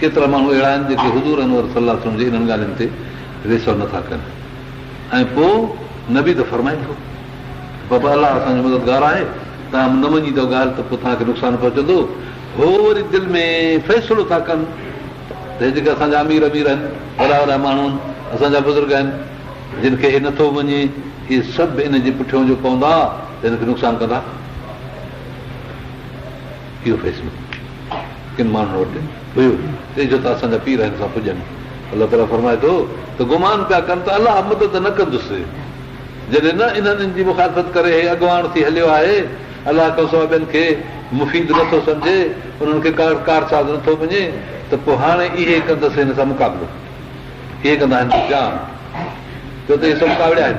ڪيترا ماڻهو اهڙا آهن جيڪي حضور انور صلي الله عليه وسلم جي انهن ڳالهين تي ريسر نه ٿا ڪن ۽ پوء نبي ته فرمائي ٿو ته بابا الله اسان جو مددگار آهي توهان نه مڃيندو ڳالهه ته پوء توهان کي نقصان پهچندو هو وري دل ۾ فيصلو ٿا ڪن ته هي جيڪي اسان جا امير امير آهن وڏا وڏا ماڻهو آهن اسان جا بزرگ آهن جن کي هي نٿو مڃي اهي سڀ ان جي پٺيون جو پوندا ته هن کي نقصان ڪندا اهو فيصلو ڪن ماڻهن وٽ هيو ته جو ته اسان جا پير هن سان پڄن. الله تعاليٰ فرمائي ٿو ته گمان پيا ڪن ته الله مدد نه ڪندس جڏهن نه انهن ان جي مخالفت ڪري هي اڳواڻ ٿي هليو آهي. الله کان سواء ٻين کي مفيد نه ٿو سمجهي، انهن کي ڪارساز نه ٿو مڃي ته پوء هاڻي اهي ڪندس هن سان مقابلو. اهي ڪندا هن جو جان. ڇو ته اهي سڀ ڪاوڙيا آهن.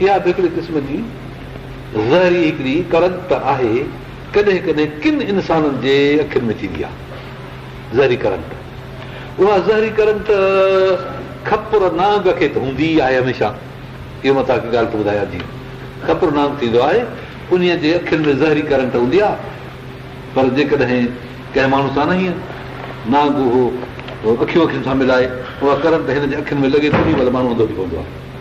اها به هڪڙي قسم جي زهري هڪڙي ڪڙڪ ته آهي، ڪڏهن ڪڏهن ڪن انسانن جي اکين ۾ ٿيندي آهي زهري ڪڙڪ. اها زهري ڪڙڪ ته کپر نانگ کي ته هوندي ئي آهي هميشه. اهو مان توهان کي ڳالهه ٿو ٻڌايان جيئن کپر نانگ ٿيندو آهي انهيء جي اکين ۾ زهري ڪڙڪ هوندي آهي پر جيڪڏهن ڪنهن ماڻهو سان نه هيء نانگ اهو اکيون اکين سان ملائي اها ڪڙڪ هن جي اکين ۾ لڳي ته انهيء مهل ماڻهو انڌو ٿي پوندو آهي.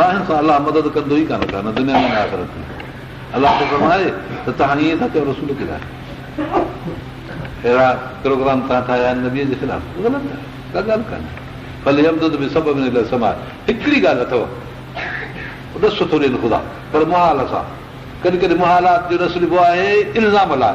راهين سان الله مدد ڪندو ئي ڪانه ڪا نه دنيا ۾ نه آخرت ۾. الله ٿو فرمائي ته توهان ائين ٿا چئو رسول ڪي لاء اهڙا پروگرام توهان ٺاهيا آهن نبي جي خلاف غلط آهي ڪا ڳالهه ڪانه ڀلي يمدد به سبب نه لي سماء هڪڙي ڳالهه اٿو ڏس ٿو ڏين خدا پر محال سان ڪڏهن ڪڏهن محالات جو ڏس ڏبو آهي الزام لاء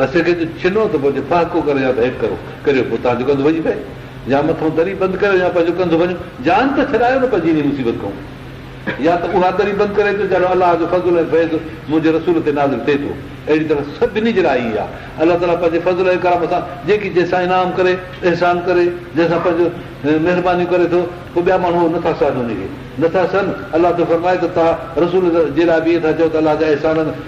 رسي کي جو ڇنو ته پوء جي ڦهڪو ڪريو يا ته هيٺ ڪرو ڪريو پوء تهان جو ڪنڌ ڀڄي پئي يا مٿئون دري بند ڪريو يا پنهنجو ڪنڌ ڀڃو جان ته ڇڏايو نه پنهنجي انهي مصيبت کئون يا ته اها دري بند ڪري ٿو جهڙو الله جو فضل ۽ فيض منهنجي رسول تي نازل ٿئي ٿو اهڙي طرح سڀني جي لاء ئي آهي الله تعاليٰ پنهنجي فضل ۽ ڪرم سان جيڪي جنهن سان انعام ڪري احسان ڪري جنهن سان پنهنجو مهربانيون ڪري ٿو پوء ٻيا ماڻهو اهو نٿا سهن انهي کي نٿا سهن الله ٿو فرمائي ته توهان رسول جي لاء به ائين ٿا چئو ته الله جا احسان